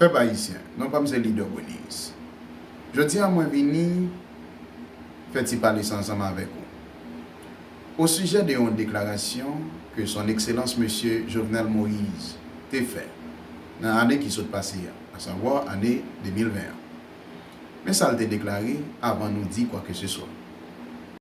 Pèp Ayisyen, non pa m se Leader Boniris. Jodi a mwen vini fè ti pale sa ansanm avèk ou o sijè de yon deklarasyon ke Son Ekselans Mesye Jovenel Moise te fè nan ane ki sot pase a, asavwa ane 2020 an. Men sa l te deklare avan nou di kwakeseswa.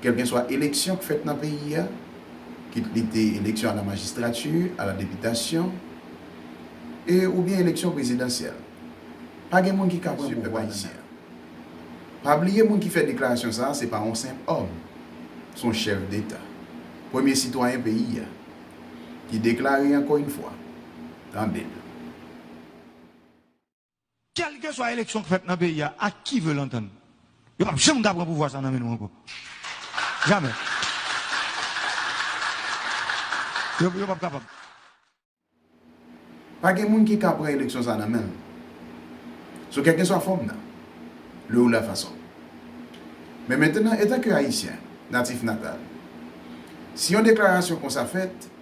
Kèlkenswa eleksyon k fèt nan peyi a, kit li te eleksyon a la majistrati, a la depitasyon e oubyen eleksyon prezidansyèl, pa gen moun ki ka pran pouvwa ayisyen an. Pa bliye moun ki fè deklarasyon sa a se pa yon senp òm, s on chèf deta, premye sitwayen peyi a, ki deklare ankò yn fwa, tande l. Kèlkeswa eleksyon k fèt nan peyi a ak ki vè lantann, yo pap janm ka pran pouvwa sa nan men nou ankò. Jamè. Yo pap kapab. Pa gen moun ki ka pran eleksyon sa nan men l. Sou kèlkeswa fòm nan, le ou la fason. Men mentenan etanke Ayisyen natif natal, si yon deklarasyon konsa fèt,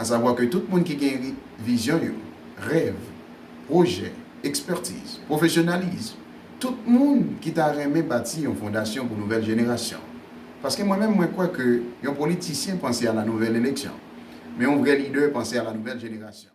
asavwa ke tout moun ki gen vizyon yo, rèv, pwojè, ekspètiz, pwofesyonalism, tout moun ki ta renmen bati yon fondasyon pou nouvèl jenerasyon. Paske mwen menm mwen kwè ke yon politisyen panse a la nouvèl eleksyon, men yon vrè lidè panse a la nouvèl jenerasyon.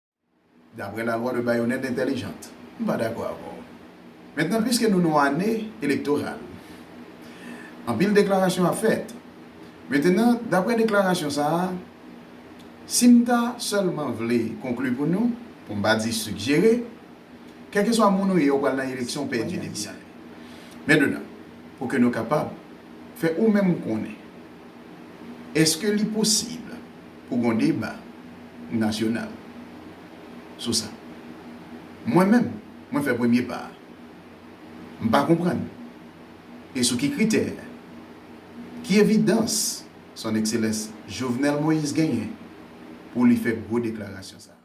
D'après la loi de baïonnette intelligente. M pa dakò avè w. Mentnan pwiske nou nan ane elektoral, anpil deklarasyon ap fèt. Mentnan d'après deklarasyon sa a, si m ta sèlman vle konkli pou nou, pou m pa di sigjere, kèlkeswa moun ou ye ou pral nan eleksyon ou pèdi depi sa. Mentnan pou ke nou kapab fè ou menm konnen èske li posib. pou gon deba nasyonal sou sa. Mwen menm, mwen fè premye pa a. M pa konprann. E sou ki kritè? Ki evidans Son Ekselans Jovenel Moïse genyen pou li fè gwo deklarasyon sa a?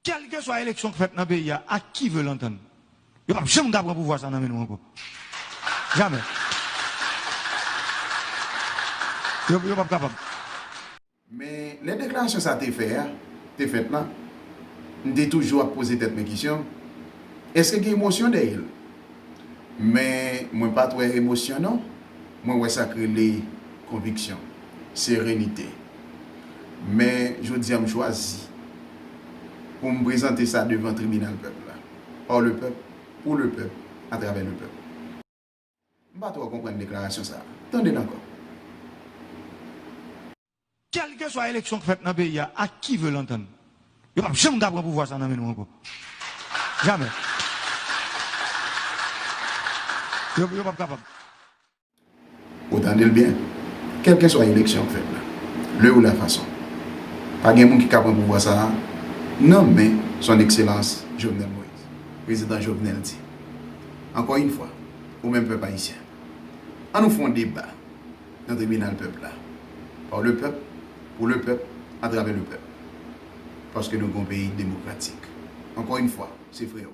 Kèlkeswa eleksyon k fèt nan peyi a ak ki ve lantann, yo p ap janm ka pran pouvwa sa nan men nou ankò. Jamè. Yo p ap kapab. Men, lè deklarasyon sa te fè a, te fèt la, m te toujou ap poze tèt mwen kesyon, èske gen emosyon dèyè l? Men mwen pat wè emosyon non, mwen wè sak rele konviksyon, serenite. Men jodi a m chwazi pou m prezante sa devan tribinal pèp la. Par le peuple, pour le peuple, à travers le peuple. M pa twò konprann deklarasyon sa a. Tande l ankò. Kèlkeswa eleksyon k fèt nan peyi a ak ki vle l antann, yo pap janm ka pran pouvwa sa nan men nou ankò. Jamè. Yo pap kapab. Ou tande l byen. Kèlkeswa eleksyon k fèt la, le ou la fason, pa gen moun ki ka pran pouvwa sa a nan men Son Ekselans Jovenel Moïse. Prezidan Jovenel di, Ankò yn fwa, ou menm pèp ayisyen, an nou fè yon deba. nan tribinal pèp la. Par le peuple, pour le peuple, à travers le peuple. Paske nou gen yon peyi demokratik. Ankò yn fwa, se freo.